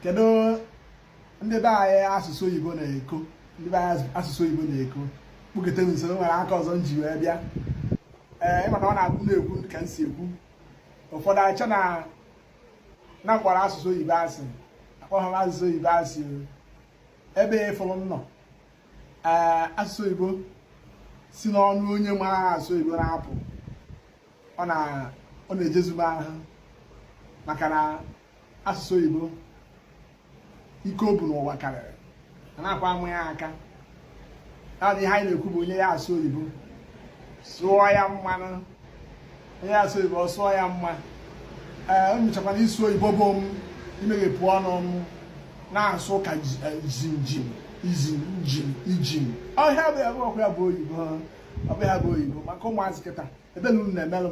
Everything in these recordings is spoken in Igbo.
kedu ndị be anyị asụsụ oyibo na-eko ndị be anyị asụsụ oyibo na-eko kpụkete m nso nwere aka ọzọ m ji wee bịa ee ị ma na ọ na-abụ na-ekwu ka m si ekwu ụfọdụ eche na m kpọrọ asụsụ oyibo asị akpọghị m asụsụ oyibo asị ebe ị fụrụ m nọ ee asụsụ oyibo si n'ọnụ onye mara asụ oyibo na-apụ ọ na-ejezu m ahụ maka na asụsụ oyibo ike o bu n'ụwa karịrị anakwa ama ya aka naanị ihe anyị na-ekwu bụ onye ya asụ oyibo sụọ ya mma nụ onye ya asụ oyibo ọ sụọ ya mma ee echekwana ịsụ oyibo bụ imeghepụ ọnụ m na-asụ ka jinjin e, izin njin ijin ọhịa bụ ya bụ ọkụ ya bụ oyibo ọ bụ ya bụ oyibo maka ụmụazị kịta ebere unu na-emelụ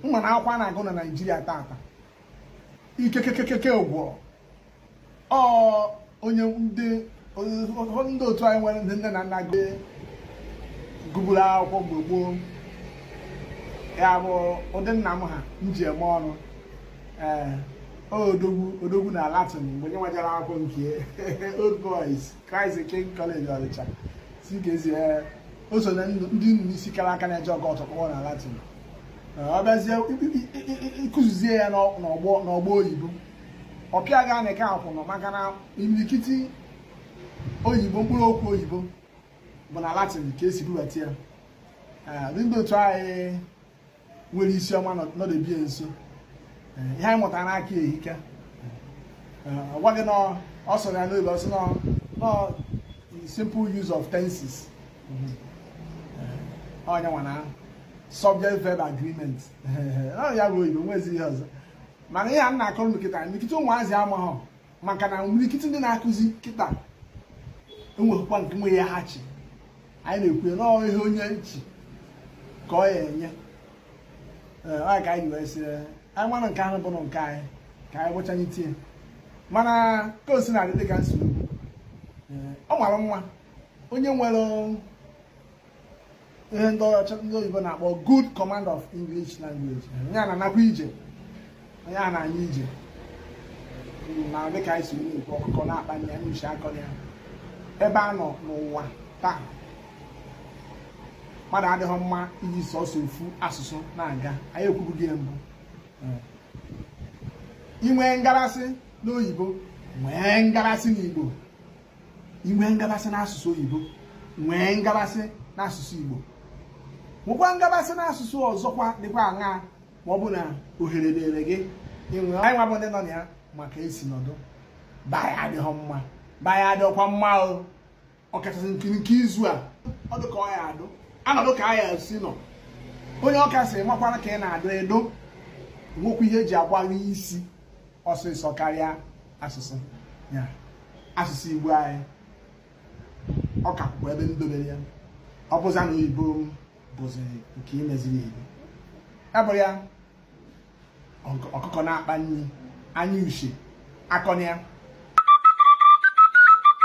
m mana akwụkwọ a na-agụ na naijiria tata ikekekekeke ụgwọ ọ onye ndị ndị otu anyị nwere ndị nne na nna gụburu akwụkwọ mgbe gboo ya bụ ụdị nna m ha m ji eme ọnụ ee odogwu odogwu na latin ebe ya nwa jere akwụkwọ nke old boys Christ the King College Ọnịcha CKC eh, o so na ndị nnu n'isi kara aka na-eje ọkọ ọtọkpọọ na Latin eh, ọ bịazie ịkụzizie ya n'ọgbọ oyibo ọ pịa ga na eke akwụnọ maka na imirikiti oyibo mkpụrụ okwu oyibo bụ na Latin ka e si bubata ya eh, ndị otu anyị nwere isi ọma nọdebie nso ihe anyị mụtara n'aka ehike ọ gwa gị na ọ sọrọ ya n'oyibo ọ sị na simple use of tenses onye nwa na subject verb agreement ya bụ oyibo nwezi ihe ọzọ mana ihe a na-akọrọ kịta kịta ụmụazị amaghọ maka na imirikiti ndị na-akụzi kịta enweghịkwa nke nwe ya ha chi anyị na-ekwu ya na ọ bụ ihe onye ji ka ọ ya-enye ọ ka anyị wee sị anyị mara nke ahụ bụ na nke anyị ka anyị gwachanye tie mana ka o si na-adị dịka nsogbu ọ mara mma onye nwere ihe ndị ọcha ndị oyibo na-akpọ good command of English language onye a na-anakwa ije onye a na-anya ije na dịka anyị si na-ekwu ọkụkọ na-akpanye ya n'uche akọ ya ebe a nọ n'ụwa taa mmadụ adịghị mma iji sọsọ ofu asụsụ na-aga anyị ekwubugo ya mbụ i nwee ngarasị n'oyibo nwee ngarasị n'igbo inwe ngabasị n'asụsụ oyibo nwee ngabasị n'asụsụ Igbo nwekwa ngabasị n'asụsụ ọzọ kwa dịkwa aṅaa ma ọ bụ na ohere dịrị gị inwe anyị nwa bụ ndị nọ na ya maka esi nọdụ baa ya adịghị mma baa ya adịghịkwa mma o ọkachasị nke nke izu a ọ dị ka ọ ya adụ anọdụ ka a ya si nọ onye Ọka sịrị makwara ka ị na-adụ edo nwekwa ihe eji agwa gị isi ọsịsọ karịa asụsụ ya asụsụ Igbo anyị ọ ka kwụkwa ebe ndobere ya ọ bụza na oyibo bụzi nke imeziri Igbo ya bụrụ ya ọkụkọ na-akpa nri anya uche akọna ya